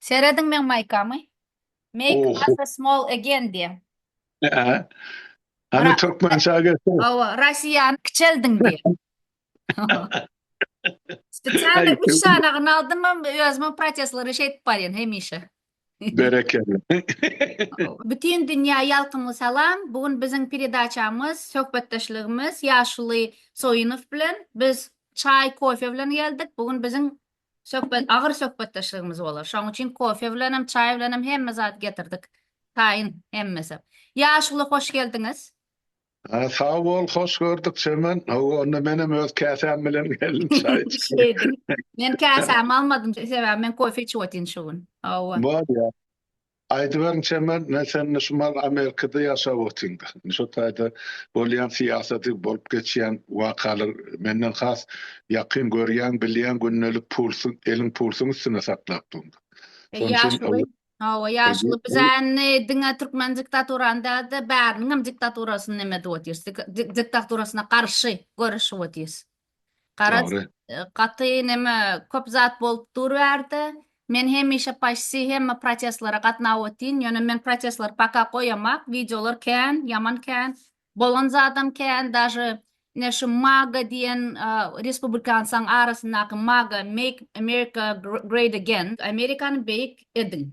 Serediň meň maýkamy. Make Gaza small again diýen. Hany türkmençä geçsene. Hawa, Russiýany kiçeldiň diýen. Spesialny üç sany gynaldymam, özümem protestlary şeýdip barýan hemişe. Berekella. Bütin dünýä ýalkymly salam. Bu gün biziň peredaçamyz, söhbetdeşligimiz ýaşuly Soýunow bilen. Biz çaý, kofe bilen geldik. Bu gün biziň Söhbet, agyr söhbetdeşligimiz bolar. Şoň üçin kofe bilenem, çaý bilenem hemme zady getirdik. Taýyn hemmesi. Ýaşuly, hoş geldiňiz. Sag bol, hoş gördük Çemen. Hawa, onda menem öz käsäm bilen geldim çaý içip. Şeýdip. Men käsämi almadym, sebäbi men kofe içip otyryn şu gün. Hawa. Bolýar. Aýdyberiň Çemen, men sende Şumal Amerikada ýaşap otyryn-da. Indi şo taýda bolýan syýasaty, bolup geçýän wakalar menden has ýakyn görýäň, bilýäň, gündelik pulsuň, eliň pulsuň üstünde saklap duryn-da. Şonuň üçin ol. Ýaşuly, hawa, ýaşuly, biz indi diňe türkmen diktaturany däl-de, bäriniňem diktaturasyny neme edip otyrys, diktaturasyna garşy göreşip otyrys. Garaz, Dogry. gaty neme, köp zat bolup dur bu ýerde. Men hemişe paşsi hemme protestlere gatnap otyn, ýöne men protestleri paka goýamak, wideolar kän, ýaman kän, bolan zadam kän, daže ine şu maga diýen respublikansaň arasyndaky maga, make America great again, Amerikany beýik ediň.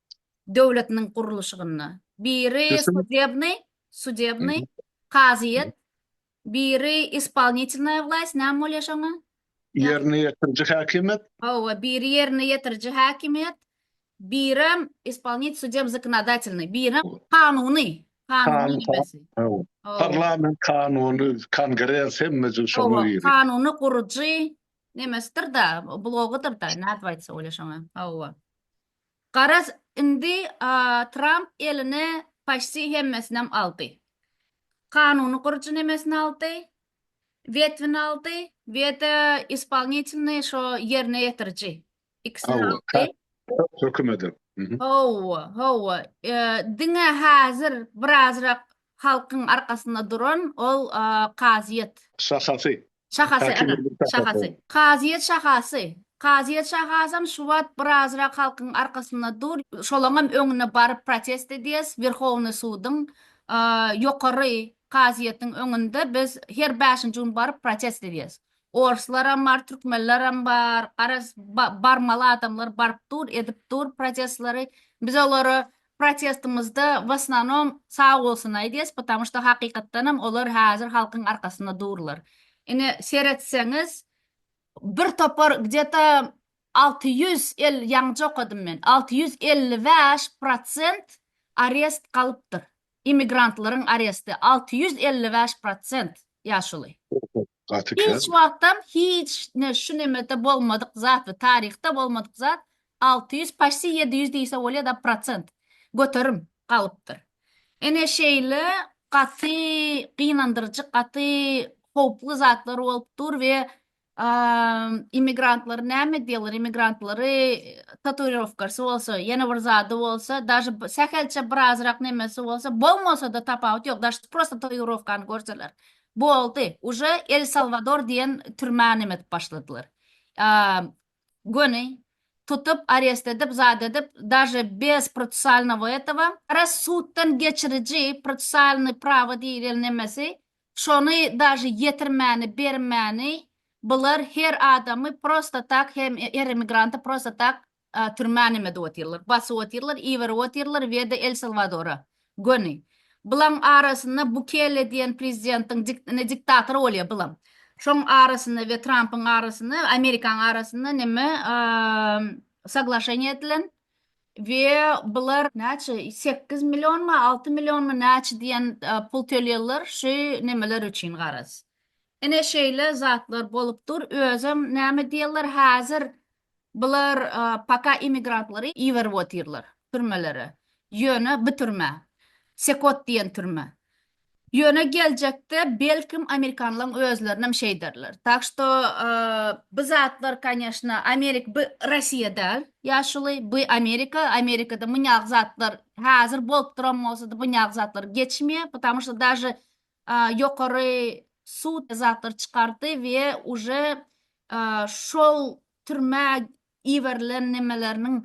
döwletiniň gurluşygynda. Biri sudebnyý, sudebnyý, kazyýet, biri ispolnitylnaýa wlaýst, näme bolýar şoňa? Ýerine ýetiriji häkimiýet. Hawa, biri ýerine ýetiriji häkimiýet, birem ispolnit sudem zakonodatelnyý, birem kanuny, kanuny ýöresi. Hawa. Parlament kanuny, kongres hemme jüz şoňa girýär. Hawa, kanuny gurujy nemesidir-da, blogydyr-da, nädip aýtsa bolýar şoňa? Hawa. Garaz indi Tramp eline paşti hemmesinem aldy. Kanuny gurujy nemesini aldy, wetvini aldy wede ispolnitilnyý şo ýerine ýetiriji ikisini aldy. Hökümedi. Howwa, howwa. Diňe hazir birazrak halkyň arkasynda duran ol kazyýet. Şahasy. Şahasy, Kaşy ana, Gürgür şahasy. şahasy. Kazyýet şahasy. Kazyýet şahasam şu wagt birazrak halkyň arkasynda dur. Şolaňam öňüne baryp protest edýäs. Werhownyý suduň, a, ýokary kazyýetiň öňünde biz her bäşinji gün baryp protest edýäs. Orslaram bar, türkmenlerem bar, garaz, ba, barmaly adamlar baryp dur, edip dur protestleri. Biz olary Protestimizde w osnanom sag bolsun aýdýas patamu şda hakykatdanam olar häzir halkyň arkasynda durlar. Ine seretseňiz bir topar gde to alty ýüz elli ýaňja okadym men alty ýüz elli bäş prosent arest galypdyr imigrantlaryň aresti alty ýüz elli bäş prosent. Ýaşuly. Gaty kän. Hiç wagtam hiç ne şu nemede bolmadyk zat we taryhda bolmadyk zat alty ýüz paşti ýedi ýüz diýse bolýa da prosent göterim galypdyr. Ene şeýle gaty gynandyryjy gaty howply zatlar bolup dur we Immigrantlary näme edýärler? Immigrantlary tatuirowkasy bolsa, ýene bir zady bolsa, daşy sähelçe birazrak nemesi bolsa, bolmasa-da tapawut ýok, daşy prosta tatuirowkany görseler, boldy, uje El Salwador diýen türmä neme edip başladylar. Göni tutup, arest edip, zat edip, daşy bez protusialnogo etogo. Gara suddan geçiriji, protusialny prawo diýlen nemesi, Şony daže ýetirmäni bermäni bular her adamy prosta tak hem her emigranty prosta tak türmä nem edip otyrlar basyp otyrlar iberip otyrlar we de el salwadora göni bulaň arasynda bukele diýen prezidentiň ine diktator bolýa bulam şoň arasynda we trampyň arasynda amerikaň arasynda neme saglaşeniýa edilen. we bular näçe sekiz millionmy alty millionmy näçe diýen pul tölýärler şu nemeler üçin garaz ine şeýle zatlar bolup dur özem näme diýerler häzir bular paka immigrantlary iberip otyrlar türmelere ýöne bu türme sekot diýen türme Ýöne geljekde belkim amerikanlaň özlerinem şeý ederler. Tak şto bu zatlar kanyeshna amerik by rasiýa dal ýaşuly by amerika amerikada munýag zatlar hazir bolup duran bolsady bunýag zatlar geçmeyä patamu şto daže ýokary sud zatlar çykardy we uje şol türmä Iberilen nemeleriniň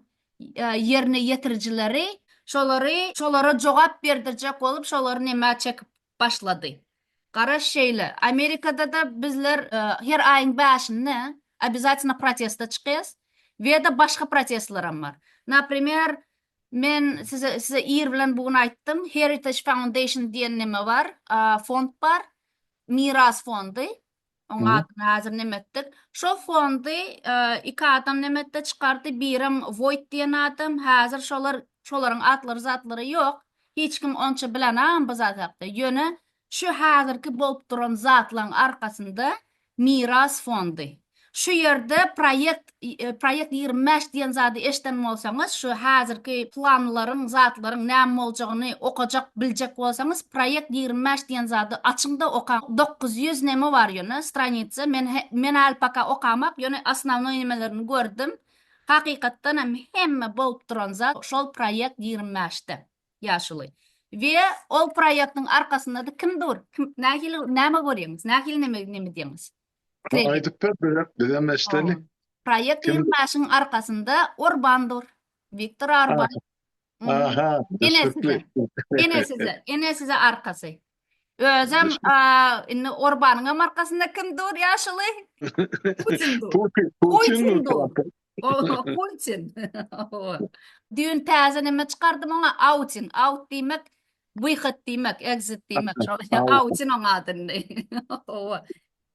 ýerine ýetirijileri şolary şolara jogap berdirjek bolup şolary nemä çekip başlady. Garaş şeýle, Amerikada-da bizler her aýyň bäşinde obýazatýna protesta çykýas we-de başga protestlerem bar. Naprimer, men size ir bilen bu gün aýtdym, Heritage Foundation diýen neme bar, fond bar, miras fondy. Oň adyny häzir neme etdik. Şo fondy iki adam neme etdi çykardy. Birem Voýt diýen adam. Häzir şolar şolaryň atlary zatlary ýok. Hiç kim onça bilenagam bu zat hakda. Ýöne şu häzirki bolup duran zatlaryň arkasynda Miras fondy. Şu ýerde proýekt Proýekt ýigrimi bäş diýen zady eşden bolsaňyz, şu häzirki planlaryň, zatlaryň näme boljagyny okajak, biljek bolsaňyz, proýekt ýigrimi bäş diýen zady açyňda okaň. Dokuz ýüz neme bar ýöne, stranitsa, men men häli paka okamak, ýöne osnownoý nemelerini gördüm. Hakykatdan hem hemme bolup duran zat şol proýekt ýigrimi bäşde ýaşuly. We ol proýektiň arkasynda-da kim dur? Kim nähili näme görýäňiz? Nähili neme neme diýäňiz? Şeýle. Aýdyp ber bize, bizem eşdeli. Proýekt Kim- ýüzbaşyň arkasynda Orban dur. Wiktor Orban. Mhm. Aha. Ene size. düşnükli. Ene size, ene size arkasy. Özem Düşün- a, indi Orbanyňam arkasynda kim dur ýaşuly? Putin dur. Putin, Putin Putin dur. dur. O, Putin. O. Düýn täze näme çykardym oňa? Outing. Out diýmek Wyhat diýmek, exit diýmek şol. Awçyn oň adyny. Hawa.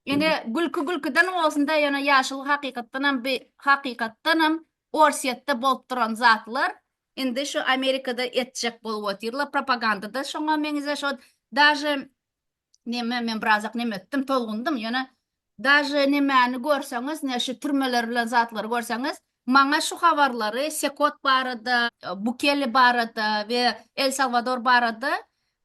Ine, gülki gülkiden bolsun-da, ýöne ýaşuly hakykatdan hem bi hakykatdan hem Orsýetde bolup duran zatlar indi şu Amerikada etjek bolup otyrlar. Propaganda-da şoňa meňzeş ot. Daže Neme men birazak neme etdim, tolgundym. Ýöne daže nemäni görseňiz, ne şu türmeler bilen zatlary görseňiz, maňa şu habarlary Sekot barada, Bukele barada we El Salwador barada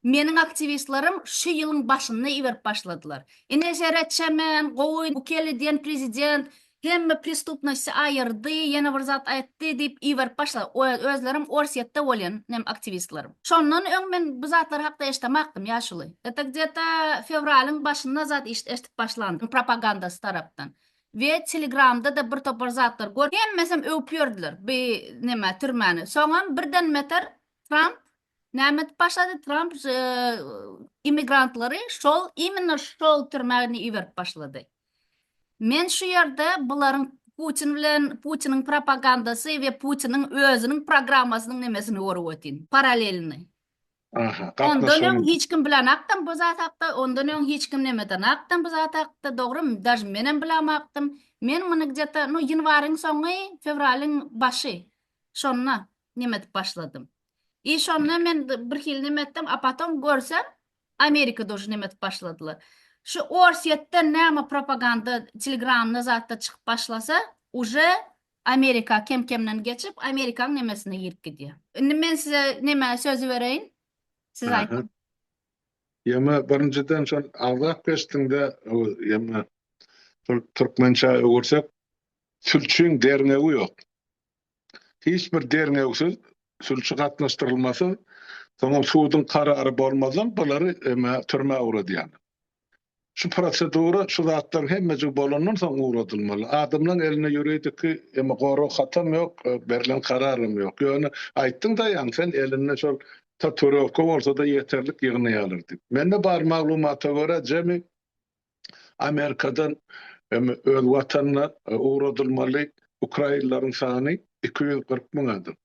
meniň aktiwistlerim şu ýylyň başynda iberip başladylar. Ine seretsemem, gowy Bukele diýen prezident Hemme pristupnosty aýyrdy, ýene bir zat aýtdy diýip iberip başlady. Özlerem Orsýetde bolýan nem aktiwistler. Şondan öň men bu zatlar hakda eşdemakdym ýaşuly. Eta gde-ta fewralyň başynda zat işt eşdip başlandym propagandasy tarapdan. We telegramda-da bir topar zatlar görüp hemmesem öwüp ýördiler bi neme türmäni. Soňam birden meter Tramp Nämet başlady Tramp immigrantlary şol immino şol türmäni iberip başlady. Men şu ýerde bularyň Putin bilen Putiniň propagandasy we Putiniň özüniň programmasynyň nemesini görüp ötin. Paralelni. Aha, Ondan öň hiç kim bilen akdym bu zat hakda, ondan öň hiç kim nemeden akdym bu zat hakda, dogrum, daj menem bilen akdym. Men muny gdeta, no ýanwaryň soňy, fewralyň başy. Şonda nemet başladym. I şonda men bir hili neme etdim, a potom görsem Amerika dojy neme edip başladylar. Şu Orsýetden näme propaganda telegramda zatda çykyp başlasa, uje Amerika kem-kemden geçip, Amerikanyň nemesine girip gidýär. Indi men size neme sözi bereýin. Siz aýdyň. Ýöne birinjiden şol agzap geçdiňde, ýöne türkmençä öwürsek, sülçüň derňewi ýok. hiç bir derňewsiz sülçi gatnaşdyrylmasa, soňam suduň karary bolmazdan bulary emä türmä ugradýarlar. Şu prosedura şu zatlaryň hemmejigi bolandan soň ugradylmaly. Adamlaryň elinde ýuridiki emä gorag hatam ýok, berlen kararam ýok. Ýöne aýtdyň daýaň sen elinde şol tatuirowka bolsada ýeterlik ýygnaýarlar diýip. Mende bar maglumata görä jemi Amerikadan öz watanyna ugradylmaly ukrainleriň sany iki ýüz kyrk müň adam.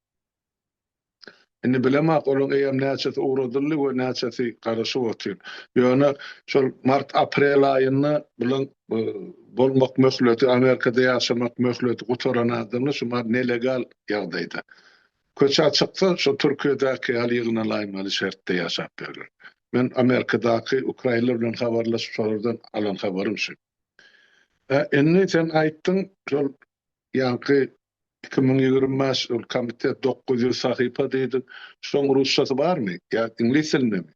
Indi bilemok, olaryň eýýäm näçesi ugradyldy we näçesi garaşyp otyr. Ýöne şol mart-aprel aýynda bulaň bolmak möhleti, Amerikada ýaşamak möhleti gutaran adamlar şu nelegal ýagdaýda. Köçä çyksa, şo Türkiýedäki ýaly ýygnalaýmaly şertde ýaşap ýörler. Men Amerikadaky ukrainler bilen habarlaşyp, şolardan alan habarym şu. Hä, indi sen aýtdyň, şol ýaňky iki müň ýigrimi bäş ol komitet dokuz ýüz sahypa diýdiň. Şoň rusçasy barmy? Ýa iňlis dilindemi?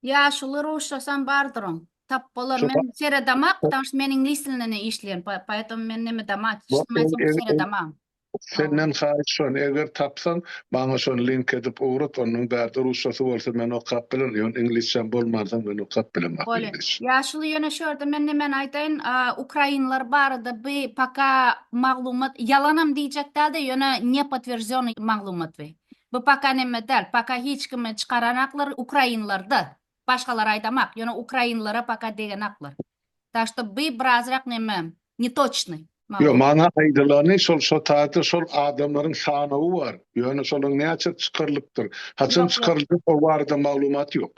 Ýaşuly ruşçasam bardyryň. Tap bolar. Men seredama, ptamşt men iňlis dilinde ne işleýän. Poetom men neme dama, çyşdym aýtsam seredama. Senden haýyş şon, eger tapsaň, maňa şony link edip ugrat, onuň bärde ruşçasy bolsa men okap bilerin, ýöne iňlisçäm bolmansoň men okap bilemok. Bolýa. Ýaşuly ýöne şu ýerde men nemeni aýdaýyn, ukrainler barada bi paka maglumat, ýalanam diýjek dälde, ýöne nepotwierdzionnyý maglumat bi. Bu paka neme dal, paka hiç kimi çykaranaklar ukrainlarda, başgalar aydamak, yöne ukrainlara paka degenaklar. Tak şto by birazrak neme, netoçnyy. Ýok, maňa aýdylany şol şo taýda şol adamlaryň sanawy bar, ýöne şolaň näçesi çykarylypdyr, haçan çykaryljak o barada maglumat ýok.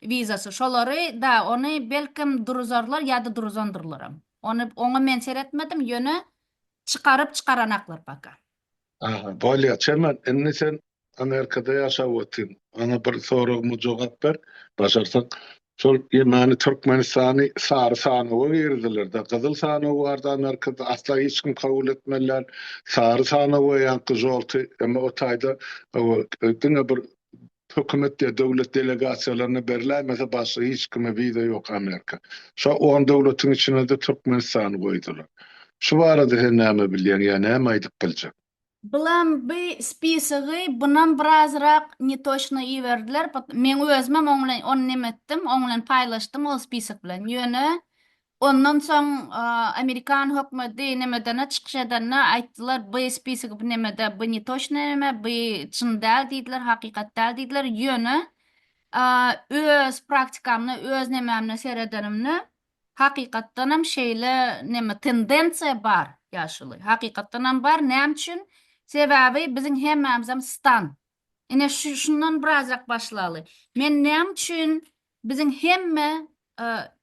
Wizasy şolary da ony belkem duruzarlar ýada duruzandyrlaram. Ony oňa men seretmedim ýöne çykaryp çykaranaklar paka. Aha bolýa Çemen indi sen Amerikada ýaşap otyň maňa bir soragyma jogap ber başarsaň şol ýemeni Türkmenistany sary sanawa girizdilerda gyzyl sanaw bardy Amerikada asla hiç kim kabul etmeli däl sary sanawa ýaňky žolty emma o taýda diňe bir Hökümet ya döwlet delegasiýalaryna berläýmese başga hiç kime wiza ýok Amerika. Şo on döwletiň içinede Türkmenistany goýdular. Şu barada sen näme bilýäň ýa näme aýdyp biljek. Bilen by spisogy bunam birazrak netoçno iberdiler, meň özümem oň bilen ony neme etdim, oň bilen paýlaşdym ol spisok bilen, ýöne Ondan soň Amerikan hökmedi nemedene çykyş edende aýtdylar by spisigi by nemede by netoçnyý neme by çyn däl diýdiler hakykat däl diýdiler ýöne öz praktikamda öz nemämde seredenimde hakykatdanam şeýle neme tendensiýa bar ýaşuly hakykatdanam bar näme üçin sebäbi biziň hemmämizem stan ine şundan birazrak başlaly men näme üçin Biziň hemme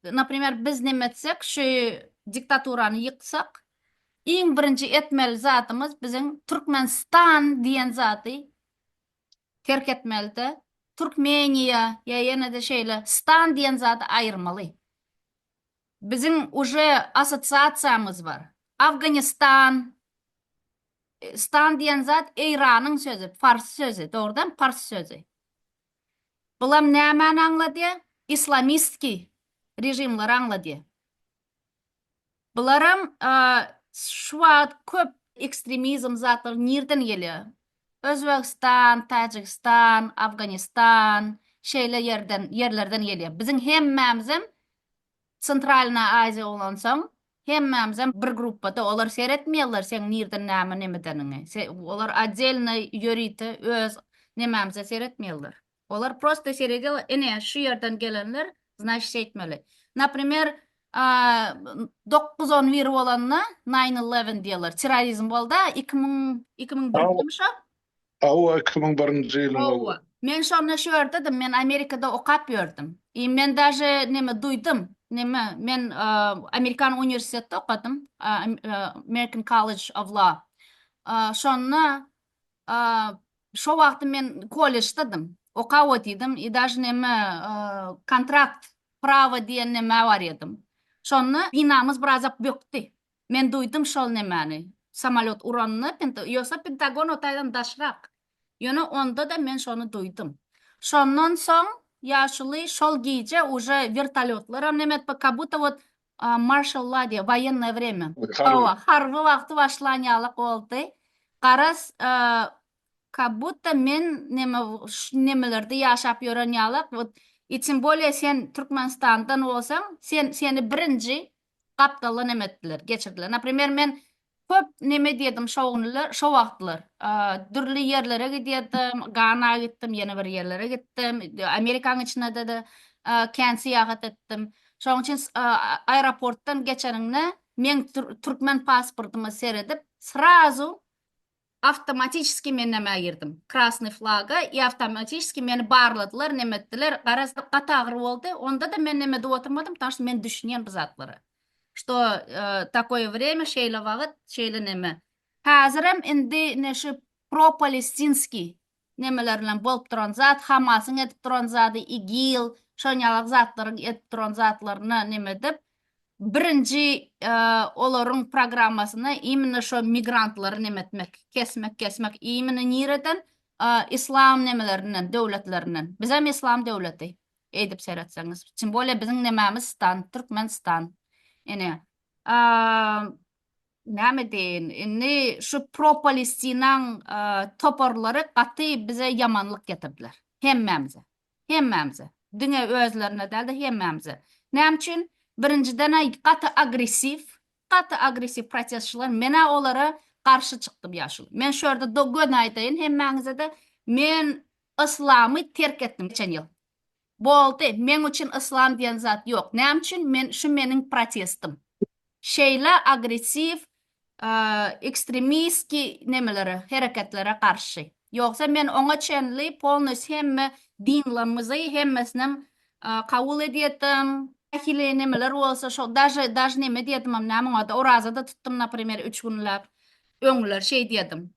naprimer biz neme etsek şu diktaturany ýyksak iň birinji etmeli zadymyz biziň Türkmenistan diýen zady terk etmelide Türkmeniýa ýa ýenede şeýle stan diýen zady aýyrmaly biziň uje asosiasiýamyz bar Afganistan stan diýen zat Eýranyň sözi fars sözi dogrudan pars sözi Bulam nämäni aňladýa? Islamistki režimleri aňladýa. Bularam şu wagt köp ekstremizm zatlary nirden gelýa? Özbegistan, Tajigistan, Afganistan şeýle ýerden ýerlerden gelýa. Biziň hemmämizem Centralna Aziýa bolansoň Hemmämizem bir gruppada olar seretmeýärler seň nirden näme nemedeniňi olar oddelno ýörite öz nemämize seretmeýärler olar prosta seredýa ine şu ýerden gelenler znaşit şeýtmeli naprimer dokuz on bir bolanda nine eleven diýerler çirrorizm bolda iki müň iki müň birde mi şo Hawa iki müň birinji ýylyň ol. Hawa. Men şonda şu ýerdedm men Amerikada okap ýördüm. I men daže neme duýdym neme men Amerikan uniwersitetde okadym American College of Law. Şonda şo wagty men kolleždedym okap otydym i daže neme kontrakt prawa diýen neme bar edym. Şonda binamyz birazak bökdi. Men duýdum şol nemäni. Samolýot uranda, ýogsa Pentagon o taýdan daşrak. Ýöne onda-da men şony duýdum. Şondan soň ýaşuly şol gije uje wertolýotlaram neme etip, kabutda wot marşal la diýýär, woýennoýe wremýa. Hawa, harby wagty başlan ýaly boldy. Garaz, kabutda men neme şu nemelerde ýaşap ýören ýaly, wot, i tym bolýa sen Türkmenistandan bolsaň, sen seni birinji gapdalda neme etdiler, geçirdiler. Naprimer, men köp neme edýärdim şo günler, şo wagtlar. Dürli ýerlere gidýärdim, Gana gitdim, ýene bir ýerlere gitdim, Amerikanyň içinde-de kän syýahat etdim. Şonuň üçin aeroportdan geçeniňde, meň türkmen pasportyma seredip, srazu Awtomatiçeskiý men nämä girdim. Krasnyý flaga i awtomatiçeskiý meni barladylar, neme etdiler. Garaz, gaty agyr boldy. Onda-da men neme edip oturmadym, ptanş ta men düşünýän bu zatlara. Što takoýe wremýa, şeýle wagyt, şeýle neme. Häzirem indi ine şu propalestinskiý nemeler bilen bolup duran zat hamasyň edip duran zady igil şon ýalak zatlaryň edip duran zatlaryna neme edip birinji olaryň programmasyna imine şo migrantlary neme etmek kesmek kesmek imine nireden islam nemelerinden döwletlerinden bizem islam döwleti eýdip seretseňiz tim bole biziň nememiz stan türkmen stan ine Näme deýin, indi şu pro-Palestinaň toparlary gaty bize ýamanlyk getirdiler. Hemmämize. Hemmämize. Diňe özlerine däl-de, hemmämize. Näme üçin? Birinjiden-ä gaty agressiw, gaty agressiw protestçiler. Men-ä olara garşy çykdym ýaşuly. Men şu ýerde do göni aýdaýyn hemmäňize-de, men yslamy terk etdim geçen ýyl. Boldy, meň üçin yslam diýen zat ýok. Näme üçin men şu meniň protestim. Şeýle agressiw ekstremistki nemelere, hereketlere garşy. Ýogsa men oňa çenli polnus hemme dinlrmizi hemmesinem kabul edýedim. Nähili nemeler bolsa şo daže daž neme diýedimem näme oňada oraza-da tutdym naprimer üç günläp. Öňler şeý diýedim.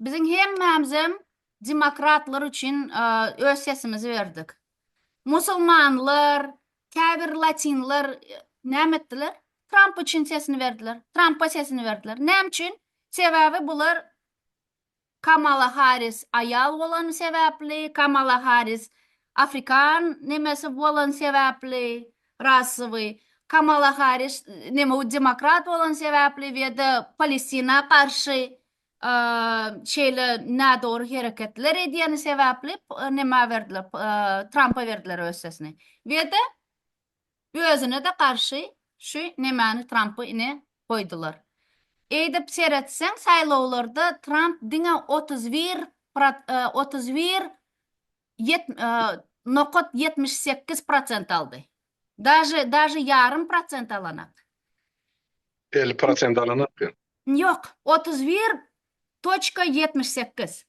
Biziň hemmämizem demokratlar üçin öz sesimizi berdik. Musulmanlar, käbir latinler näme etdiler? Tramp üçin sesini berdiler. Trampa sesini berdiler. Näme üçin? Sebäbi bular Kamala Harris aýal bolany sebäpli, Kamala Harris afrikan nemesi bolan sebäpli, rasowy, Kamala Harris neme demokrat bolan sebäpli we de Palestina garşy şeýle nädogry hereketler edýäni sebäpli nämä berdiler Trampa berdiler öz sesini wede özüne-de garşy şu nämäni Trampy ine goýdular. Eýdip seretseň saýlawlarda Tramp diňe otuz bir otuz bir nokat ýetmiş sekiz prosent aldy. Daže daže ýarym prosent alanak. Elli prosent alanak ýa. Ýok, otuz bir toçka ýetmiş sekiz.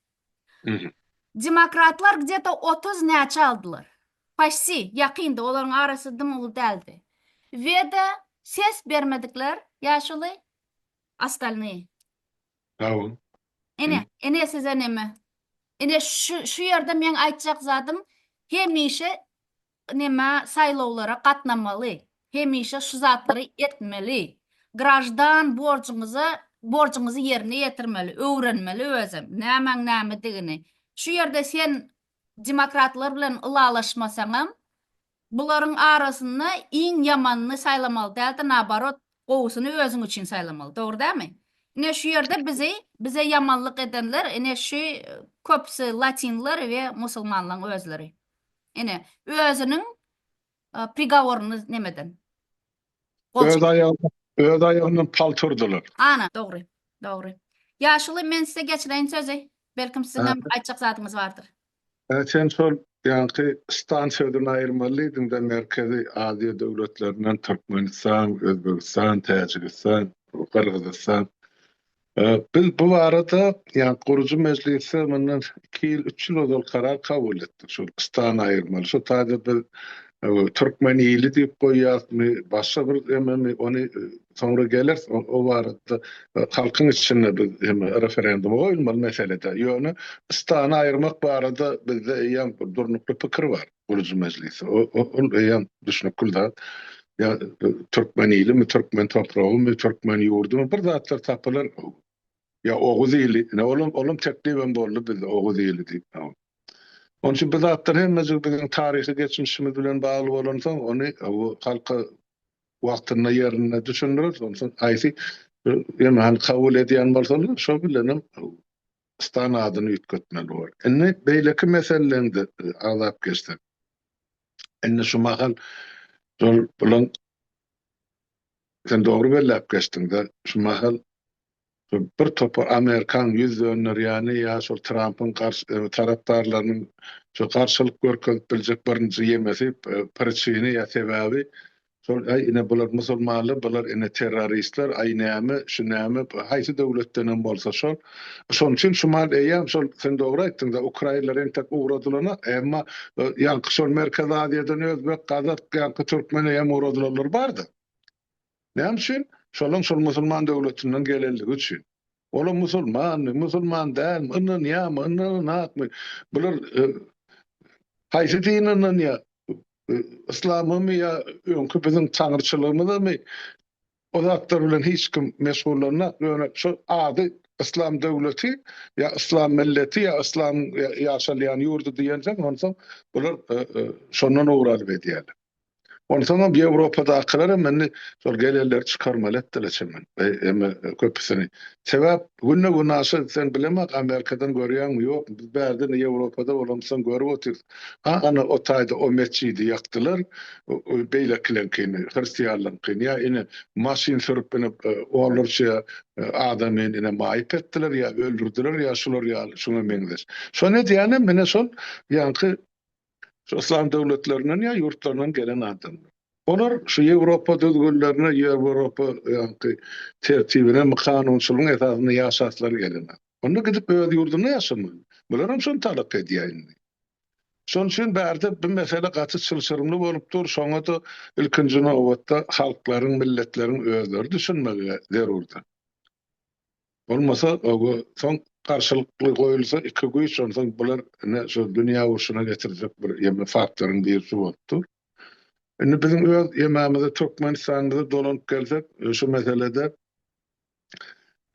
Mhm. Demokratlar gdeta otuz näçe aldylar. Paşti, ýakyndy, olaryň arasy dym uly däldi. Weda ses bermedikler, ýaşuly, ostalnyý. Hawa. Ine, ine size neme. Ine şu şu ýerde meň aýtjak zadym hemişe neme saýlawlara gatnamaly hemişe şu zatlary etmeli graždan borjuňyza borjuňyzy ýerine ýetirmeli öwrenmeli özem nämäň nämedigini şu ýerde sen demokratlar bilen ylalaşmasaňam bularyň arasynda iň ýamanyny saýlamaly dälde naobarot gowusyny özüň üçin saýlamaly dogry dälmi ine şu ýerde bizi bize ýamanlyk edenler ine şu köpüsi latinler we musulmanlaň özleri. Ine, özüniň prigoryny nemeden. Öz aýagyny, öz aýagyndan palta urdular. Ana, dogry, dogry. Ýaşuly, men size geçireýin sözi. Belkim siziň hem aýtjak zadyňyz bardyr. Hä, sen şol ýaňky stan sözüni aýyrmaly diýdiň-de, Merkezi Aziýa döwletlerinden Türkmenistan, Özbegistan, Täjigistan, Gyrgyzystan. Biz bu barada, ýa gurujy mejlisde mundan iki ýyl, üç ýyl ozal karar kabul etdik, şol stany aýyrmaly. Şo taýda biz türkmen ili diýip goýýarysmy, başga bir ememi, ony soňra geleris, o barada halkyň içinde biz hem referenduma goýulmaly meselede. Ýöne stany aýyrmak barada bizde eýýäm durnukly pikir bar. gurujy mejlisi. O, o, ol eýýäm düşnükli zat. Ýa e, türkmen ilimi, türkmen topragymy, türkmen ýurdumy bir zatlar tapylar. Ýa oguz ili, ne olam olam teklip hem boldy bizde oguz ili diýip. ha. Onun için bu zatlar hemmejik biziň taryhy geçmişimiz bilen bagly bolansoň, ony bu halka wagtynda ýerinde düşündireris. Ondan soň aýsy e, ýöne hani kabul edýän bolsalar, şo bilen hem stan adyny üýtgetmeli bol. Indi beýleki meselelerinde agzap geçsek. Indi şu mahal şol bulan sen dogry belläp geçdiňde şu mahal bir topar amerikan ýüz dönderýäni ýa şol Trampyň garşy tarapdarlarynyň şu garşylyk görkezip biljek birinji ýemesi priçini ýa sebäbi Şol aý ine bular musulmanlar bular ine terroristler aý näme şu näme haýsy döwletdenem bolsa şol şonuň üçin şumal eýýäm şol sen dogry aýtdyňda ukrainler entek ugradylana emma ýaňky şol merkezi aziýadan özbek gazak ýaňky türkmen eýýäm ugradylanlar bardy näme üçin şolaň şol musulman döwletinden gelenligi üçin Olar musulmanmy, musulman dälmi, ynanýarmy, ynananakmy, bular haýsy dine ynanýar, yslamymy ýa öňki biziň taňryçylygymyzamy, o zatlar bilen hiç kim meşgullanýak, ýöne şu ady yslam döwleti ýa yslam milleti ýa yslamyň ýaşalýan ýurdy diýensoň, onsoň bular şondan owralyp edýärler. Onsoňam Ýewropadakylaram indi şol gelenleri çykarmaly etdiler çemen. Emma köpüsini. Sebäp günde günaşa sen bilemek Amerikadan görýäňmi ýokmy? Biz bärde indi Ýewropada bolamsoň görüp otyrys. Ha ana o taýda o metjidi ýakdylar. Beýlekileňkini, hristianlaryňkyny ýa ine maşyn sürüp ine onlarça adamy ine maýyp etdiler ýa öldürdiler ýa şular ýaly şuňa meňzeş. Şony edýänem ine şol ýaňky şu yslam döwletlerinden ýa ýurtlaryndan gelen adamlar. Olar şu Ýewropa düzgünlerine, Ýewropa ýaňky tertibine, my kanunçylygyň esasynda ýaşaslar gelen. Onda gidip öz ýurdunda ýaşamaly. Bularam şony talap edýär indi. Şonuň üçin bärde bu mesele gaty çylşyrymly bolup dur, şoňa-da ilkinji nobatda halklaryň, milletleriň özleri düşünmegi zerurdyr. Bolmasa oba soň garşylykly goýulsa iki güýç onsoň bular ine şu dünýä urşuna getirjek bir ýeme faktoryň birisi bolup dur. Indi biziň öz ýememize Türkmenistanymyza dolanyp gelsek şu meselede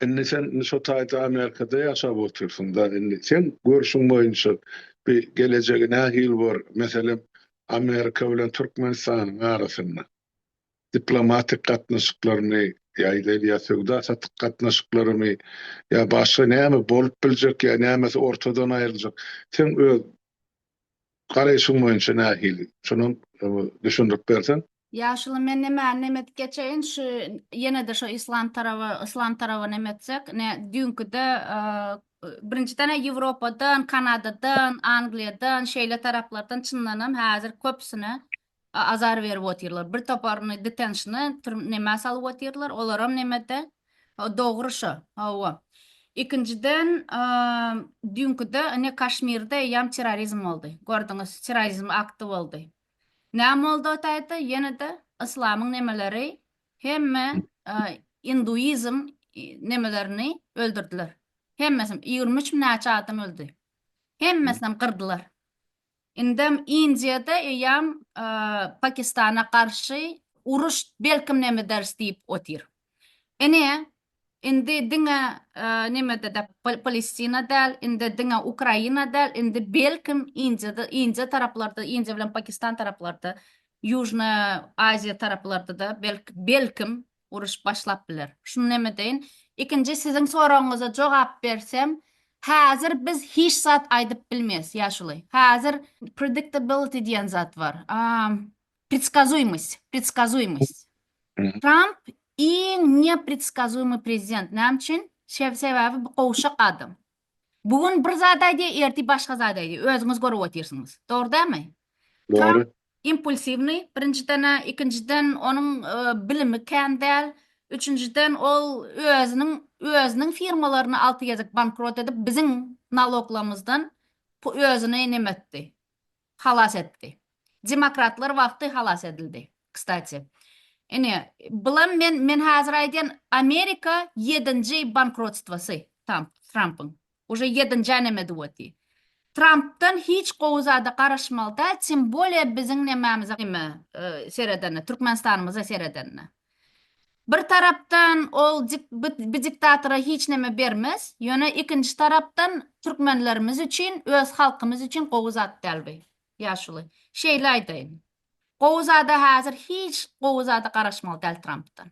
indi sen şo taýda Amerikada ýaşap otyrsyň da indi seň görşüň boýunça bi gelejegi nähili bor meselem Amerika bilen Türkmenistanyň arasynda? diplomatik gatnaşyklarymy ýa-da ýa söwda-satyk gatnaşyklarymy ýa başga näme bolup biljek ýa nämesi ortadan aýryljak seň öz garaýşyň boýunça nähili şonam düşündirip berseň. Ýaşuly men nämäni nem edip geçeýin şu ýenede şo islam taraby islam taraby nem etsek ne düýnkide birinjiden he ýewropadan kanadadan angliýadan şeýle taraplardan çyndanam häzir köpüsine Azar berip otyrlar. Bir toparyny detenşna türm nämä salyp otyrlar. Olaram nemede. Ho dogry şo. Hawa. Ikinjiden düýnküde ine Kaşmirde eýýam terrorizm boldy. Gördüňiz terrorizm akty boldy. Näme boldy o taýda ýenede yslamyň nemeleri hemme induizm nemelerini öldürdiler. Hemmesini ýigrimi üç mi näçe adam öldi. Hemmesinem gyrdylar. Indem Indiýada eýýäm Pakistana garşy uruş belkim nemederis diýip otyr. Ine, indi diňe nemede-de Palestina däl, indi diňe Ukraina däl, indi belkim Indiýada, Indiýa taraplarda, Indiýa bilen Pakistan taraplarda, Ýužnaýa Aziýa taraplarda-da belkim uruş başlap biler. Şuny näme deýin? Ikinji siziň soragyňyza jogap bersem, häzir biz hiç zat aýdyp bilmeris, ýaşuly. Häzir predictability diýen zat bar. Predskazuýmost, predskazuýmost. Tramp iň nepredskazuýmy prezident. Näme üçin? Sebäbi bu gowşak adam. Bu gün bir zat aýdýar, ertir başga zat aýdýar. Özüňiz görüp otyrsyňyz. Dogry dälmi? Dogry. Impulsiwnyý, birinjiden-ä, ikinjiden onuň bilimi kän däl, üçünjiden ol özüniň özüniň firmalaryny alty gezek bankrot edip, biziň naloglarymyzdan özüni näme etdi? Halas etdi. Demokratlar wagty halas edildi. Kstati. Ine, bulam men men hazir aýdýan Amerika ýedinji bankrotstwasy Tamp, Trampyň. Uje ýedinji änemedi woti. Trampdan hiç gowy zada garaşmaly däl, tim bolýa biziň nämemize, nime, seredende, Türkmenistanymyza seredende. Bir tarapdan ol bi diktatora hiç neme bermez, ýöne ikinji tarapdan türkmenlerimiz üçin, öz halkymyz üçin gowy zat däl bi. Ýaşuly, şeýle aýdaýyn. Gowy zada häzir hiç gowy zada garaşmaly däl Trampdan.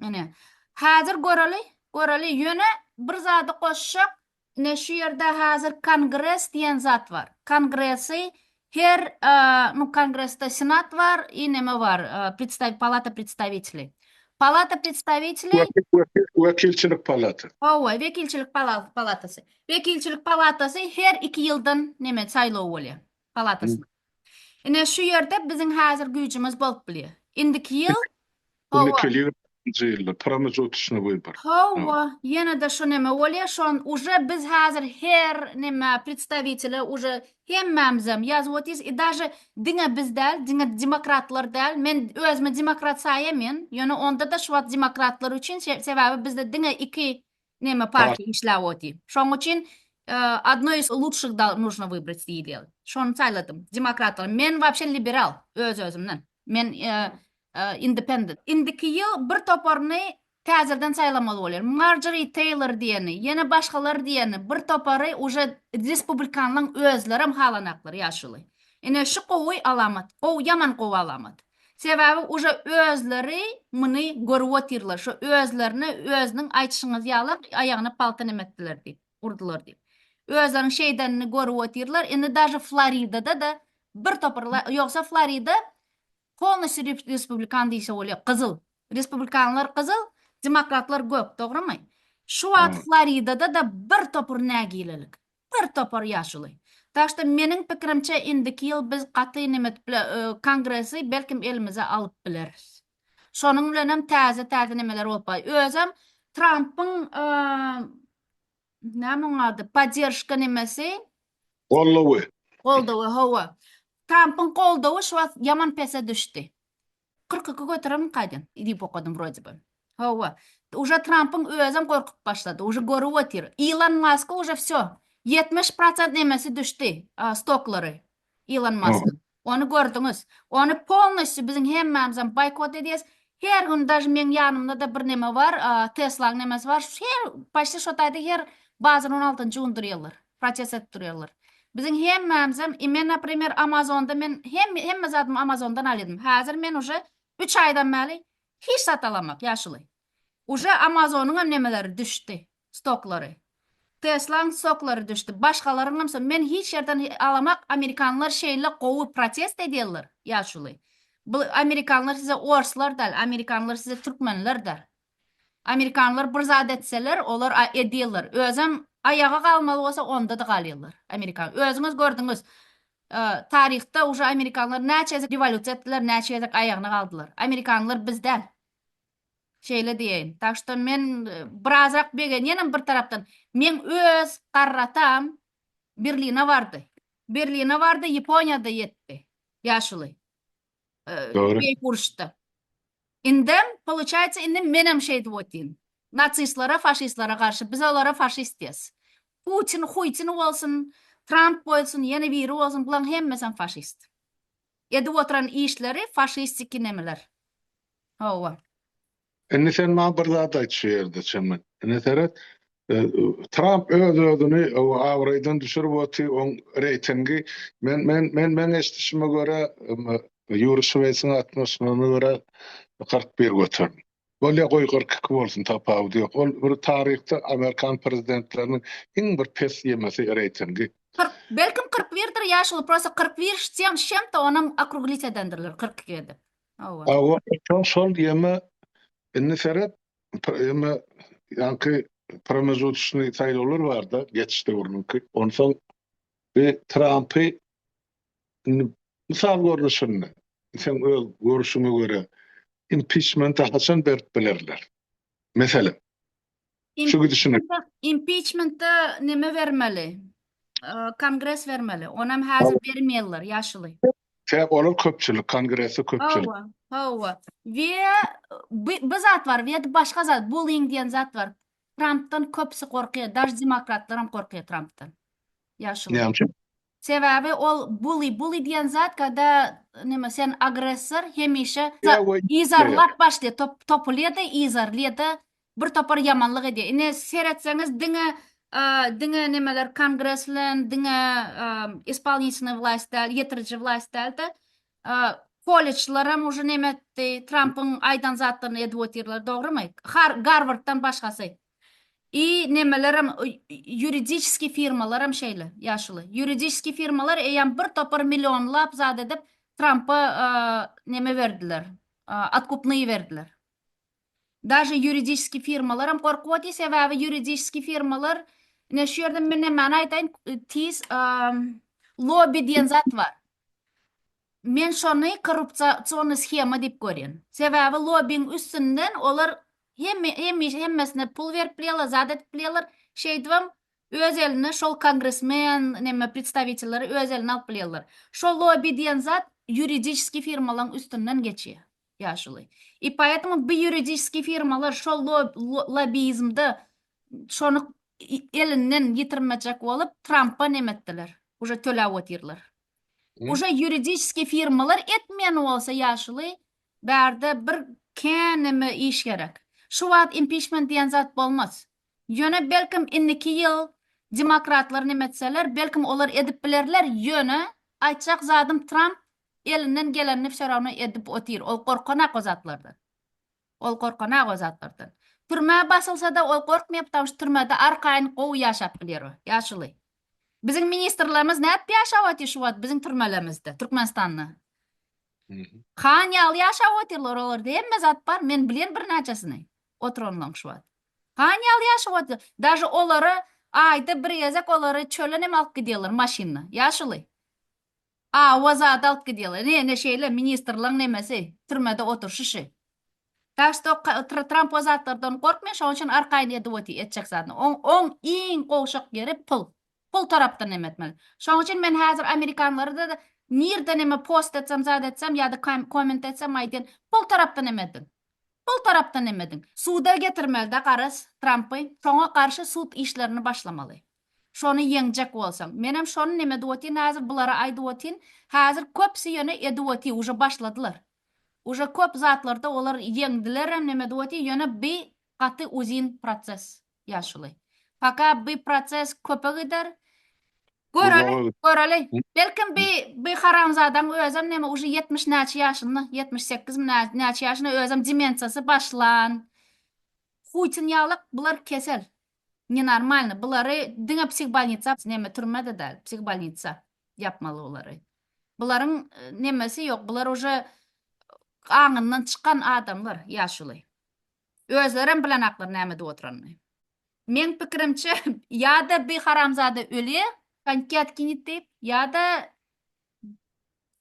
Ine, häzir göreli, göreli, ýöne bir zady goşjak, Ine şu ýerde hazir kongres diýen zat bar. Kongresi her nu kongresde senat bar i neme bar predstaw palata predstawiteli. Palata predstawiteli. Wekilçilik palata. Howwa wekilçilik palatasy. Wekilçilik palatasy her iki ýyldan neme saýlaw bolýar. palatasyna. Ine, şu ýerde biziň häzir güýjümiz bolup bilýär. Indiki ýyl, Onda kelýär nji ýylda, pramejotçnyý wybory. Hawa, ýene-de şu näme bolýar, şon uje biz häzir her näme predstawitele uje hemmämizem ýazyp otyrys i daže diňe biz däl, diňe demokratlar däl, men özümi demokrat saýamyn, ýöne onda-da şu wagt demokratlar üçin, sebäbi bizde diňe iki Neme parki işläp oty. Şoň üçin Odno iz lutşih da nujno wybrat diýilýär. Şony saýladym. Demokratlar. Men wapşe liberal öz özümden. Men independent. Indiki ýyl bir toparyny täzeden saýlamaly bolýar. Marjori Teýlor diýeni, ýene başgalar diýeni bir topary uje respublikanlaň özlerem halanaklar ýaşuly. Ine şu gowy alamat. Gowy ýaman gowy alamat. Sebäbi uje özleri muny görüp otyrlar, şo özlerine özüniň aýtyşyňyz ýalam aýagyna palta nemetdiler diýip, urdular diýip. Özleriniň şeýdenini görüp otyrlar, indi daže Floridada-da bir topar ýogsa Florida polnosýu respublikan diýse bolýar, gyzyl. Respublikanlar gyzyl, demokratlar gök, dogrymy? Şu wagt Floridada-da bir topar nägilelik. Bir topar ýaşuly. Tak što meniň pikirimçe indiki ýyl biz gaty nemet bile kongresi belkim elimize alyp bileris. Şonuň bilenem täze täze nemeler bolup bay. Özem Trampyň näme oň ady podderžka nemesi. Goldawy. Goldawy hawa. Trampyň goldawy şu wagt ýaman pese düşdi. Kyrk iki göteremok kaýdam diýip okadym wrode by. Hawa. Uje Trampyň özem gorkup başlady. Uje görüp otyr. Ilon Maska uje wsýo. Ýetmiş prosent nemesi düşdi stoklary Ilon Maskyň. Ony gördüňiz. Ony polnostýu biziň hemmämizem boýkot edýäs. Her gün daž meň ýanymda-da bir neme bar. Teslaň nemesi bar. Her poşti şo taýda her bazar on altynjy gündir ýyldyr. Proses edip durýarlar. Biziň hemmämizem i men naprimer amazonda men hem hemme zadymy amazondan alýadym häzir men uje üç aýdan bäli hiç zat alamak ýaşuly uje amazonyňam nemeleri düşdi stoklary teslaň stoklary düşdi başgalaryňam so men hiç ýerden alamak amerikanlar şeýle gowy protest edýärler ýaşuly bu amerikanlar size orslar däl amerikanlar size türkmenlerdir Amerikanlar bir zat etseler olar edýäler özem aýaga galmaly bolsa ondada galýalar amerikan özüňiz gördüňiz taryhda uje amerikanlar näçe gezek rewolýusiýa etdiler näçe gezek aýagyna galdylar amerikanlar biz däl şeýle diýeýin tak şto men birazrak begenýänem bir tarapdan meň öz garratam berline bardy berline bardy ýaponiýada ýetdi ýaşuly Dogry. Beýik uruşda. Indem, poluçaýsa, indi menem şeýdip otyryn. Nasistlere, faşistlere garşy, biz olara faşist diýeris. Putin, Huýtin bolsun, Tramp bolsun, ýene biri bolsun, bulaň hemmesem faşist. Edip oturan işleri faşistiki nemeler. Hawa. Indi sen maňa bir zat aýt şu ýerde çemen. Ine seret, Tramp öz-özüni abraýdan düşürip oty, oň reýtingi men men men meň eşdişime görä Ýuri Şweýsiň altmyş nuna görä kyrk bir göterin. Bolýa goý kyrk iki bolsun tapawudy ýok. Ol bir taryhda amerikan prezidentleriniň iň bir pes ýemesi reýtingi. Kyrk belkim kyrk birdir ýaşuly prosta kyrk bir ştýem şemte onam okruglitýedendirler kyrk iki edip. Hawa şol şol ýöne indi seret ýöne ýaňky promezutyşnyý saýlawlar barda geçiş döwrüniňki onsoň bi trampy indi mysal görnüşinde seň öz görüşiňe görä impiçmenta haçan berip bilerler meselem. Şu gidişine. Impiçmenta näme bermeli? Kongres bermeli. Onam häzir bermeýärler, ýaşuly. Sebäbi olar köpçülik, kongresi köpçülik. Hawa, hawa. We bu zat bar, we başga zat, bullying diýen zat bar. Trumpdan köpsi gorkýar, daş demokratlar hem gorkýar Trumpdan. Ýaşuly. Näme üçin? Sebäbi ol bully, bully diýen zat, kada näme sen agressor, hemişe izarlap başlaýar, topulýar-da, izarlaýar-da, Bir topar ýamanlyk edýär. Ine seretseňiz diňe diňe nemeler kongreslen diňe ispolnitnýy wlast däl ýetiriji wlast dälde koleçlaram uje neme etdi trampyň aýdan zatlaryny edip otyrlar dogrymy garwarddan başgasy i nemelerem ýuridiçeskiý firmalaram şeýle ýaşuly ýuridiçeskiý firmalar eýýam bir topar millionlap zat edip trampa neme berdiler atkupnyý berdiler Daže ýuridiski firmalaram gorkuwady sebäbi ýuridiski firmalar ine şu ýerde men nämäni aýdaýyn tiz lobby diýen zat bar. Men şony korrupsiýony shema diýip görýän. Sebäbi lobbiň üstünden olar hemme hemişe hemmesine pul berip bilýärler zat edip bilýärler şeýdibem öz eline şol kongresmen neme predstawitelleri öz eline alyp bilýärler. Şo lobby diýen zat ýuridiski firmalaň üstünden geçýär. ýaşuly. I poetmu bu ýuridiski firmalar şol lobizmde şony elinden ýitirmejek bolup Trampa nem etdiler. Uje töläp otyrlar. Uje ýuridiski firmalar etmeýän bolsa ýaşuly bärde bir käneme iş gerek. Şu wagt impiçment diýen zat bolmaz. Ýöne belkim indiki ýyl demokratlar nem etseler belkim olar edip bilerler ýöne aýtjak zadym Tramp elinden gelenini fşorawna edip otyr, ol gorkanak o zatlardan. Ol gorkanak o zatlardan. Türmä basylsada ol gorkmaýar ptamşy türmede arkaýyn gowy ýaşap bilýär o, ýaşuly. Biziň ministrlerimiz nädip ýaşap otyr şu wagt biziň türmelerimizde, Türkmenistanda? Han ýaly ýaşap otyrlar olarda hemme zat bar, men bilýän birnäçesini oturanlaň şu wagt. Han ýaly ýaşap otyr, daže olary aýda bir gezek olary çölenem alyp gidýärler maşynda, ýaşuly. A wa zadalt gdýela. Ne, ne şeýle, ministrlaň nemesi, türmede oturşyşy. Tak što ka, tr, Tramp o zatlardan gorkmay, şoň üçin arkaýyn edip oty, etjek zadyny. Oň, oň iň gowşak ýeri pul. Pul tarapdan neme etmeli. Şoň üçin men häzir amerikanlara-da nirde neme post etsem, zat etsem ýa-da kam, komment etsem aýdýan, pul tarapdan neme ediň. Pul tarapdan neme ediň. Suda getirmeli-dä garaz Trampy, soňa garşy sud işlerini başlamaly. Şony ýeňjek bolsaň. Menem şony neme edip otyryn hazir bulara aýdyp otyryn. Hazir köpsi ýöne edip otyr uje başladylar. Uje köp zatlarda olar ýeňdilerem neme edip otyr ýöne bi gaty uzyn proses ýaşuly. Paka bi proses köpe gider. Göreli göreli. Belkim bi bi haramzadaň özem neme uje ýetmiş näçe ýaşynda ýetmiş sekizmi nä näçe ýaşynda özem demensiýasy başlan. Huýtyn ýalak bular kesel. Ne normalny bulary diňe psihbolnitsa neme türmede dal psihbolnitsa ýapmaly bulary bularyň nemesi ýok bular uje aňyndan çykan adamlar ýaşuly özlerem bilenaklar näme edip oturanyny meň pikirimçe ýada bi haramzada öli konki atkinit diýip ýada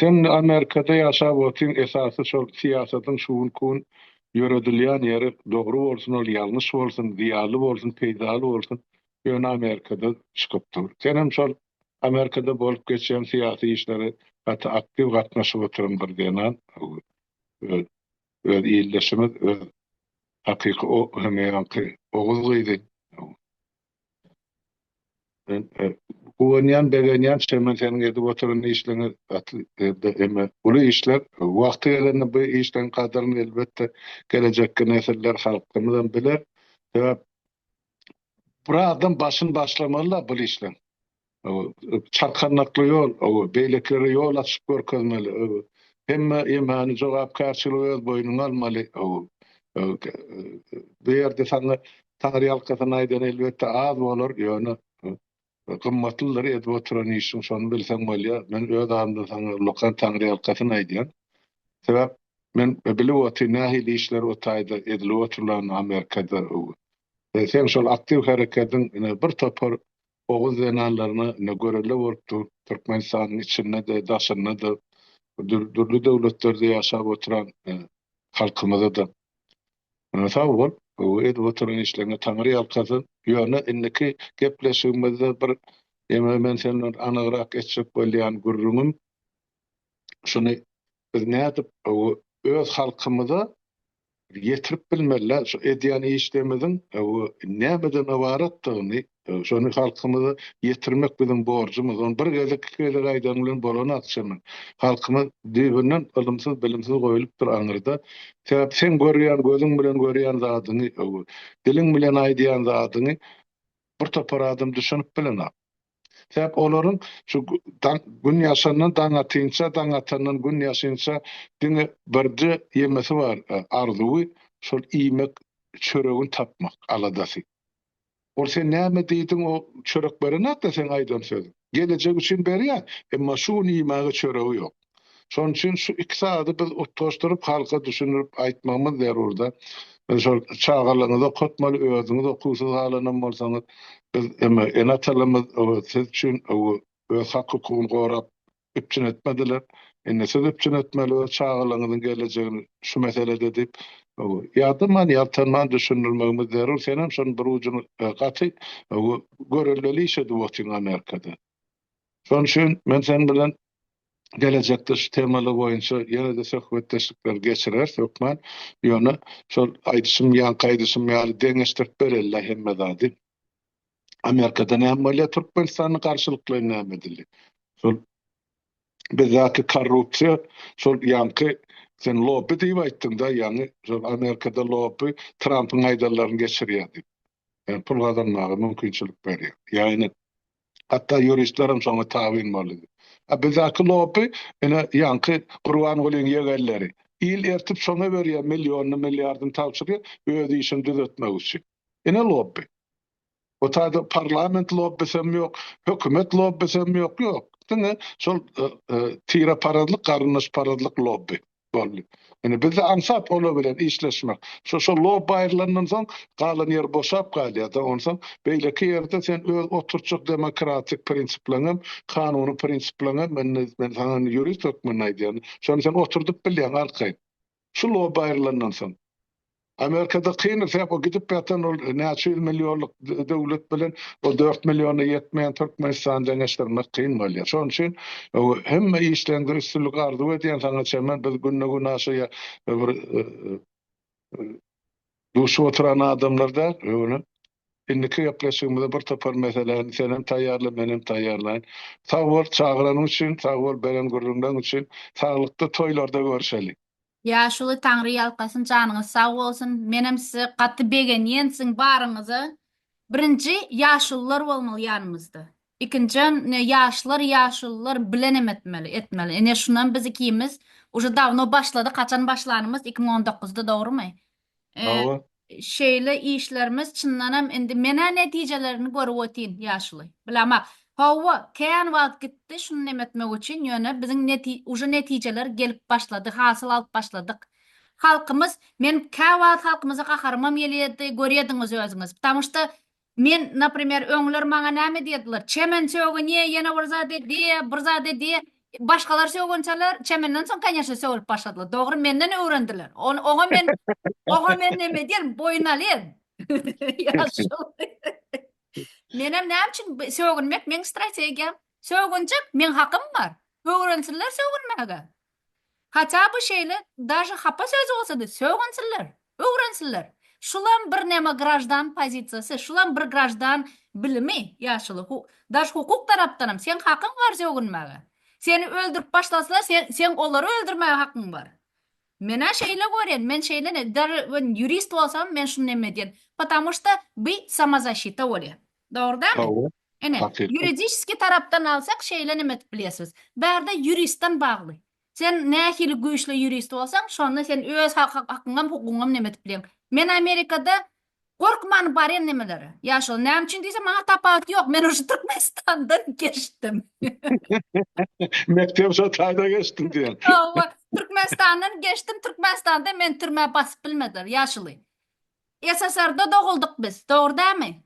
Sen Amerikada ýaşap otyň esasy şol syýasatyň şugun kun ýöredilýän ýeri dogry bolsun ol ýalňyş bolsun zyýaly bolsun peýdaly bolsun ýöne Amerikada çykyp dur. Senem şol Amerikada bolup geçýän syýasy işlere gaty aktiw gatnaşyp otyryň bir zenan öz öz ildeşimiz öz hakyky o hemýanky oguz gyzy Guwanýan, begenýän Çemen seniň edip oturan işleňe gaty ýerde eme uly işler wagty gelende bu işleň gadyryny elbetde gelejekki nesiller halkymyzam biler sebäp bir adam başyny başlamalyda bul işleň Çarkandakly ýol, beýlekilere ýol açyp görkezmeli. Hemme ýemäni, jogapkärçiligi öz boýnuňa almaly. Bu ýerde saňa taňryýalkasyn aýdan elbetde az bolar, ýöne gymmatlydyr edip oturan işiň, şony bilseň bolýar. Men öz adymdan saňa ullakan taňryýalkasyn aýdýan. Sebäp men bilip otyryn nähili işler o taýda edilip oturlanyny Amerikada. Seň şol aktiw herekediň ine bir topar Oguz zenanlaryna ine görelde bolup dur. Türkmenistanyň içinde-de, daşynda-da, dürli döwletlerde ýaşap oturan halkymyza-da sag bol, edip oturan işleriňe Taňry ýalkasyn. Ýöne indiki gepleşigimizde bir ýene men sen bilen anygrak etjek bolýan gürrüňim şuny, biz nädip öz halkymyza, ýetirip bilmeliler. Şu edýän işlerimiziň nämeden ybaratdygyny, şony halkymyza ýetirmek biziň borjumyz. Ony bir gezek, iki gezek aýdaň bilen bolan akçamy? Halkymyz düýbünden ylymsyz, bilimsiz goýlupdyr aňyrda. Sebäp seň görýän, gözüň bilen görýän zadyňy, diliň bilen aýdýan zadyňy bir topar adam düşünip bilenok. Sebäp olaryň şu gün ýaşandan daň atynça, daň atandan gün ýaşynça diňe birje ýemesi bar, arzuwy, şol iýmek, çöregini tapmak aladasy. Ol sen näme diýdiň o çörek berenakda seň aýdan sözüň? Gelejek üçin berýär, emma şu gün iýmäge çöregi ýok. Şonuň üçin şu iki sady biz utgaşdyryp halka düşündirip aýtmagymyz zerurda. Biz şol çagalaryňyzy okatmaly, özüňiz okuwsyz galanam bolsaňyz, biz eme ene-atalymyz siz üçin öz hak-hukugyny gorap üpjün etmediler. Indi siz üpjün etmeli öz çagalaryňyzyň gelejegini şu meselede diýip ýadaman, ýaltanman düşündirmegimiz zerur. Senem şonuň bir ujuny gaty görelgeli iş edip otyň Amerikada. Şonuň üçin men seniň bilen gelejekde şu temalar boýunça ýene-de söhbetdeşlikleri geçireris hökman. Ýöne şol aýdyşym, ýaňky aýdyşym ýaly deňeşdirip bereli-le hemme zady. Amerikada näme bolýar, Türkmenistanda garşylyklaýyn näme edildi? Şol bizdäki korrupsiýa, şol ýaňky sen lobby diýip aýtdyň-da, ýaňy şol Amerikada lobby Trampyň aýdanlaryny geçirýär diýip. Ýa pul gazanmaga mümkinçilik berýär. Ýa ine Hatda ýuristlerem şoňa tabyn boldy. A bizaky lopy, ine, ýaňky Gurbangulyň ýegenleri. Il ertip şoňa berýär millionny, milliardny tabşyrýar, öz işini düzetmek üçin. Ine lopy. Bu taýda parlament lopbisem ýok, hökümet lopbisem ýok, ýok. Diňe şol tireparazlyk, garyndaşparazlyk lopby. boldy. Indi bizde aňsat olar bilen işleşmek. Şo şo lob aýrylandan soň galan ýer boşap galýar-da. Onsoň beýleki ýerde sen öz oturtjak demokratik prinsipleriň hem, kanuny prinsipleriň hem, indi men saňa indi ýurist hökmünde aýdýan, şony sen oturdyp bilýäň arkaýyn. Şu lob aýrylandan soň. Amerikada kyn sebap o gidip ýatan ol näçe ýüz millionlyk döwlet bilen o dört milliona ýetmeýän Türkmenistany deňeşdirmek kyn bolýar. Şonuň üçin hemme işleriňde üstünlik arzuw edýän saňa Çemen biz günde gün aşaýa bir duşup oturan adamlar däl öňe indiki gepleşigimize bir topar meseläni sen hem taýýarla men hem taýýarlaýyn. Sag bol çagyranyň üçin sag bol beren gürrüňleň üçin saglykda toýlarda görüşeli. Ýaşuly Taňry ýalkasyn janyňyz sag bolsun menem size gaty begenýen siziň baryňyza birinji ýaşulylar bolmaly ýanymyzda ikinjam ne ýaşlar ýaşulylar bilenem etmeli etmeli ine şunam biz ikimiz uje dawno başladyk haçan başlanymyz iki müň on dokuzda dogrymy Hawa. Şeýle işlerimiz çyndanam indi menä netijelerini görüp otyn ýaşuly. Bilemok. Hawa, kän wagt gitdi şuny neme etmek üçin, ýöne biziň neti uje netijeler gelip başlady, hasyl alyp başladyk. Halkymyz, men käwagt halkymyza gaharymam gelýärdi, görýädiňiz özüňiz. Ptamuşda Men, naprimer, öňler maňa näme diýerdiler, Çemen sögünýä, ýene bir zat edýä, bir zat edýä. Başgalar sögünçäler, Çemenden soň, kanýeşne, sögülip başladylar. Dogry, menden öwrendiler. Ony, oňa men, oňa men näme edýärin, boýun alýan. Ýaşuly. Menem näme üçin bi, sögünmek meň strategiýam. Sögünjek, meň hakym bar. Öwrensinler sögünmäge. Haça by şeýle daže hapa söz bolsady sögünsinler, öwrensinler. Şulam bir neme graždan pozisiýasy, şulam bir graždan bilimi ýaşuly hu daž hukuk tarapdanam seň hakyň bar sögünmäge. Seni öldürip başlasalar sen seň olary öldürmäge hakyň bar. Menä şeýle görýän, men şeýle ne daže men ýurist bolsam men şuny neme edýän. Patamu şta by samozaşita bolýa. Dogry dälmi? Dogry. Ine, ýuridiski tarapdan alsak, şeýle neme edip bilýärsiňiz. Bärde ýuristden bagly. Sen nähili güýçli ýurist bolsaň, şonda sen öz hakyňam, hukugyňam neme edip bilýäň. Men Amerikada gorkman barýan nemelere. Ýa şol näme üçin diýseň, maňa tapawut ýok. Men uje Türkmenistandan geçdim. Mekdebi şol taýda geçdim diýen. Hawa, Türkmenistandan geçdim. Türkmenistanda meni türmä basyp bilmediler, ýaşuly. SSR-da doguldyk biz, dogry dämi?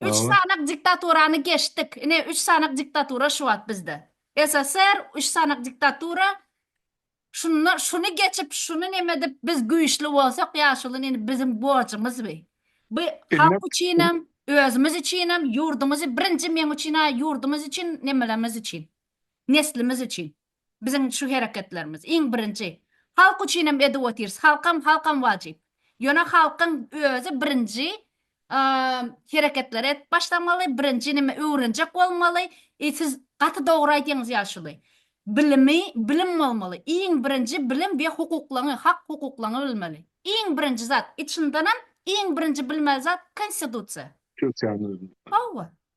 Üç Dogry. sanak diktaturany geçdik. Ine, üç sanak diktatura şu wagt bizde. SSR, üç sanak diktatura. Şunda şuny geçip, şuny neme edip biz güýçli bolsak, ýaşuly nini biziň borjumyz bi. Bi Indi- halk üçinem, özümiz üçinem, ýurdumyzy birinji meň üçin-ä ýurdumyz üçin, nemelerimiz üçin. Neslimiz üçin. Biziň şu hereketlerimiz, iň birinji, halk üçinem edip otyrys, halkam, halkam wajyp. Ýöne halkyň özi birinji hereketleri edip başlamaly, birinji neme öwrenjek bolmaly, e siz gaty dogry aýdyňyz ýaşuly. Bilimi, bilim bolmaly, iň birinji bilim we hukuklaňy, hak hukuklaňy bilmeli. Iň birinji zat, içindenem iň birinji bilmeli zat konstitusiýa. Türkiýäniň özünde. Hawa,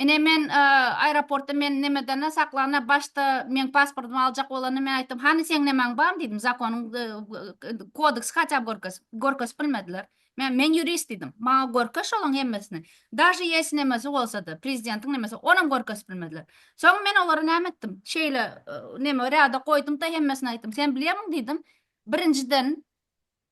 Ine men aeroportda men nemedana saklana başda meň pasportymy aljak bolanda men aýtdym hany seň nemäň bar diýdim zakonyň kodeksi haçap görkez görkezip bilmediler men men ýurist diýdim maňa görkez şolaň hemmesini daže ýesi nemesi bolsada prezidentiň nemesi onam görkezip bilmediler soň men olara näme etdim şeýle neme rada goýdumda hemmesini aýtdym sen bilýämiň diýdim birinjiden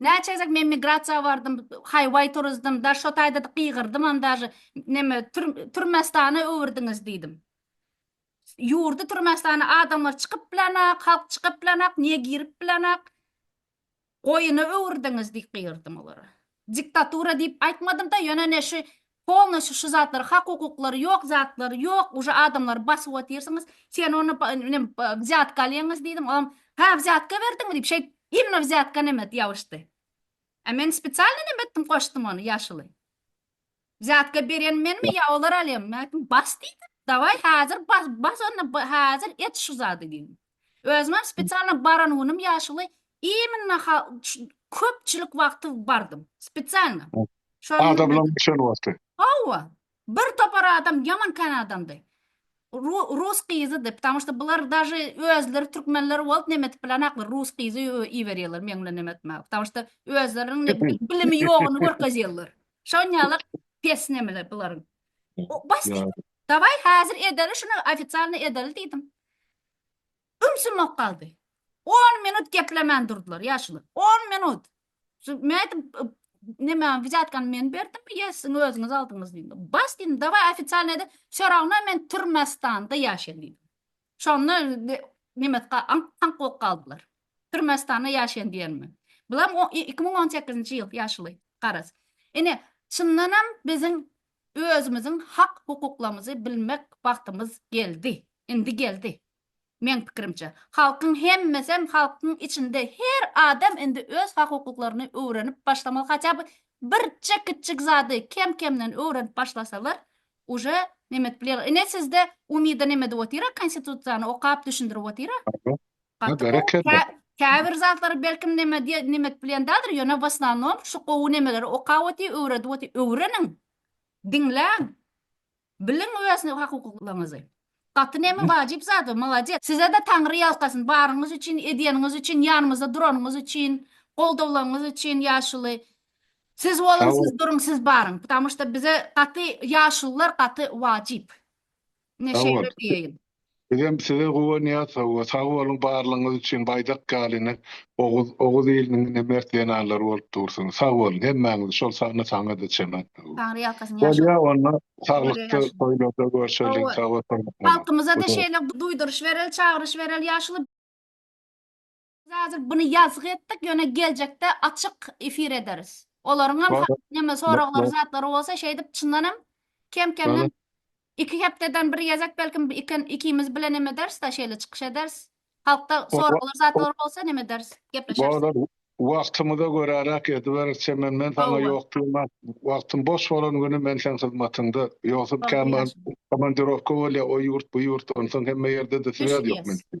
Näçe gezek men migrasiýa bardym, haýwaý turuzdym, da şo taýda-da gygyrdymam daže, neme, Türmestana öwürdiňiz diýdim. Ýurdy Türmestana adamlar çykyp bilenok, halk çykyp bilenok, niýe girip bilenok, goýuna öwürdiňiz diýip gygyrdym olara. Diktatura diýip aýtmadym-da, ýöne ne şu Polnoşi şu zatlar hak hukuklary ýok zatlary ýok uje adamlary basyp otyrsyňyz sen ony nem wzýatka alýaňyz diýdiň olam ha wzýatka berdiňmi diýip şeýt imno wzýatka nemet ýabyşdy a men spesialno nem etdim goşdum ony ýaşuly wzýatka berýän menmi ýa olar alýamy men aýtdym bas diýdim dawaý hazir bas bas onda hazir et şu zady diýdim Özümem spesialno baran günüm ýaşuly iminna ha ş köpçülik wagty bardym. Spesialno. Şol Adamlaň günlerde. düşen wagty. Hawa. Bir topar adam ýaman kän adamdy. Ru rus gyzydy. Ptammy şda bular daže özleri türkmenler bolup neme etip bilenaklar. Rus gyzy ü iberýärler meň bilen neme etmäge. Ptammy şda özleriniň ne bi bilimi ýoguny görkezýärler. Şon ýalak pes nemeler bularyň. O bas diýdim. Dawaý häzir edeli şuny ofisialno edeli diýdim. Ümsümok galdy. On minut geplemän durdylar ýaşuly. On minut. Men aýtdym, neme, wizýatkany men berdimmi, ýa siziň özüňiz aldyňyz diýdim. Bas diýdim, dawaý ofitsialnyý ede, Şoragna men Türmestanda ýaşaýyn diýdim. Şonda nemetga aňk-taňk bolup galdylar. Türmestanda ýaşaýyn diýenime. Bulam iki müň on sekizinji ýyl ýaşuly, garaz. Ine, çyndanam biziň Özümiziň hak hukuklamyzy bilmek wagtymyz geldi. Indi geldi. Meň pikirimçe. Halkyň hemmesem halkyň içinde her adam indi öz hak hukuklaryny öwrenip başlamaly haçaby bir çe kiçjik zady kem kemden öwrenip başlasalar uje nemetip bilýärler. Ine sizde umyda nemedip otyra konstitusiýany okap düşündirip otyra. Gaty gowy. Käbir zatlary belkim neme diýen neme edip bilen däldir, ýöne wasnanom şu gowy nemeleri okap otyr, öwredip otyr. Öwreniň. Diňläň. Biliň öz hukuklaryňyzy. Gaty neme wajyp zat, molades. Sizede Taňry ýalkasyn, baryňyz üçin, edýäniňiz üçin, ýanymyzda duranyňyz üçin, goldawlaňyz üçin ýaşuly. Siz boluň, siz duruň, siz baryň. Ptamuşda bize gaty ýaşulylar gaty wajyp. Ine şeýle diýeýin. Bizem size guwanýas hawa sag boluň barlygyňyz üçin baýdak ýaly ine Oguz Oguz iliniň ine mert zenanlary bolup dursuňyz sag boluň hemmäňiz şol sanda saňada çenat hawa. Taňry ýalkasyn ýaşuly. Bolýa onda saglykda toýlarda görşeliň sag boluň. Halkymyza-da şeýle duýduryş bereli çagyryş bereli ýaşuly. Biz häzir buny ýazgy etdik, ýöne geljekde açyk efir ederis. Olaryň hem Bar. neme soraglary, Bar. zatlary bolsa şeýdip çyndan hem kem-kemden Bar. iki hepdeden bir gezek belki iken ikimiz bile neme ederis-de şeýle çykyş ederis. Halkda Bar. soraglar, zatlar bolsa neme ederis, gepleşeris. Bar. Wagtymyza göräräk ediberis. Çemen men saňa Hawa. ýok diýmän, wagtym boş bolan güni men seň hyzmatyňda. Ýogsam Bagtly kämä ýaş. komandirowka bolýar, o ýurt, bu ýurt, onsoň hemme ýerde-de Beş swýaz ýok ýes. mende.